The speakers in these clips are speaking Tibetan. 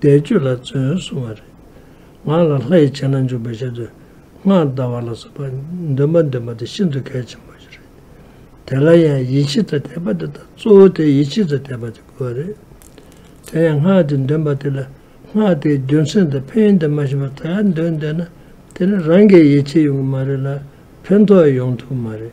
བཟླས་བརྗོད་ལ་བརྩོན་གསུང་བ་རེད། ངག་ལ་ལྷ་ཡི་བྱིན་རླབས་འཇུག་པའི་ཆེད་དུ་སྔགས་བཟླ་བ་ལ་སོགས་པ་འདོན་པ་འདོན་པ་དེ་ཤིན་ཏུ་གལ་ཆེན་པོ་ཞིག་རེད། དེ་ལ་ཡང་ཡིད་ཆེས་ཚད་དེད་པ་དེ་དང་གཙོ་བོ་དེ་ཡིད་ཆེས་ཚད་དེད་པ་དེ་དགོས་པ་རེད། དེ་ཡང་སྔགས་དེ་འདོན་པ་དེ་ལ་སྔགས་དེའི་རྒྱུ་མཚན་དང་ཕན་ཡོན་དེ་མ་ཤེས་པར་ད་ཡར་འདོན་བསྡད་ན་དེ་ནི་རང་གི་ཡིད་ཆེས་ཡོང་གི་མ་རེད་ལ་ཕན་ཐོགས་ཡོང་ཐུབ་ཀྱི་མ་རེད།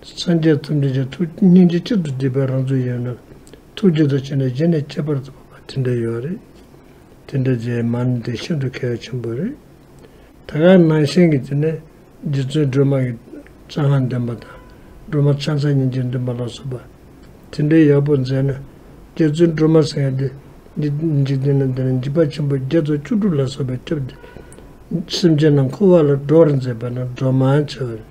སངས་རྒྱས་རྩ་འདྲེན་ཅིང་ཐུགས་སྙིང་རྗེ་གཅིག་ཏུ་བསྡུས་པའི་རང་ཚུགས་ཡོད་ན། ཐུགས་རྗེ་དང་བྱས་ནས་རྗེས་ནས་ཁྱད་པར་དུ་འཕགས་པ་དེ་འདྲ་ཡོད་རེད། དེ་འདྲ་རྗེས་མ་ནི་དེ་ཤིན་ཏུ་གལ་བ་ཆེན་པོ་རེད། ད་ག་ནང་བཞིན་གྱི་དེ་ནས་རྗེ་བཙུན་སྒྲོལ་མ་ཡི། རྩ་སྔགས་འདོན་པ་དང་སྒྲོལ་མ་ཕྱག་འཚལ་ཉིན་བྱེད་འདོན་པ་ལ་སོགས་པ། དེ་འདྲའི་ཡག་པོ་མཛད་ན། རྗེ་བཙུན་སྒྲོལ་མ་སེང་གེ་འདི་འཇིག་རྟེན་ན་འདི་ན་འཇིགས་པ་ཆེན་པོ་བརྒྱ་རྩ་བཅུ་དྲུག་ལ་སོགས་པའི་ཁྲིབས་འདི། སེམས་ཅན་རྣམས་འཁོར་བ་ལ་སྒྲོག་རེ་མཛད་པ་ན་སྒྲོག་མང་ཆེ་བ་རེད།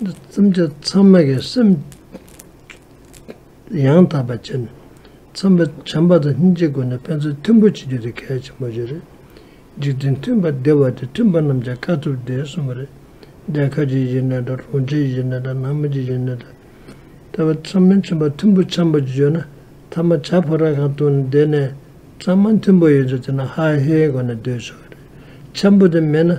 བརྩམ་བྱ་ཚང་མ་གི་སེམས་ཡང་དག་པ་བྱེད་ནས་བརྩམ་པ་བྱམས་པ་དང་སྙིང་རྗེའི་སྒོ་ནས་ཕན་ཚུན་མཐུན་པོ་བྱེད་རྒྱུ་དེ་གལ་ཆེན་པོ་ཞིག་རེད། འཇིག་རྟེན་མཐུན་པ་བདེ་བ་དེ་མཐུན་པ་རྣམས་ཀྱང་དཀའ་ཐུབ་བདེ་གསུམ་པོ་རེད། རྒྱལ་ཁབ་ཀྱི་གཞི་གནས་དང་རོང་ཆེན་གཞི་གནས་དང་ནང་མི་གྱི་གཞི་གནས་དང། དེ་བས་བརྩམ་མི་མཐུན་པ་མཐུན་པོ་བྱམས་པོ་བྱེད་རྒྱུ་ན་ཐ་མ་བྱ་ཕོ་ར་གང་བཏུང་ནས་བསྡད་ནས་བརྩམ་མ་མཐུན་པོ་ཡོད་ཚད་དེ་ན་ཧ་ཧེའི་སྒོ་ནས་སྡོད་ཆོག་གི་རེད། འཆམ་པོ་དེ་མེད་ན།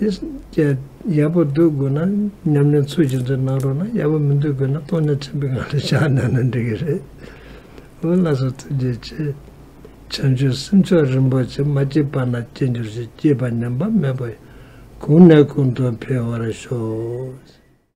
དེས་ཡག་པོ་སྡོད་དགོས་ན་ཉམས་ལེན་ཚུལ་གྱིས་འཛིན་གནང་རོགས་གནང་ཡག་པོ་མི་འདོད་དགོས་ན་སྟོང་ཉིད་ཆེན་པོའི་ངང་ལས་བཞག་གནང་ན་འགྲིག་གི་རེད། འོ་ལགས་སོ་ཐུགས་རྗེ་ཆེ། བྱམས་ཆོས་སེམས་མཆོག་རིན་པོ་ཆེ་མ་སྐྱེས་པ་ན་སྐྱེ་འགྱུར་ཞིག་སྐྱེས་པ་ཉམས་པ་མེད་པ་ཡིན། གུང་ནས་གུང་དུ་འཕེལ་བར་ཤོག།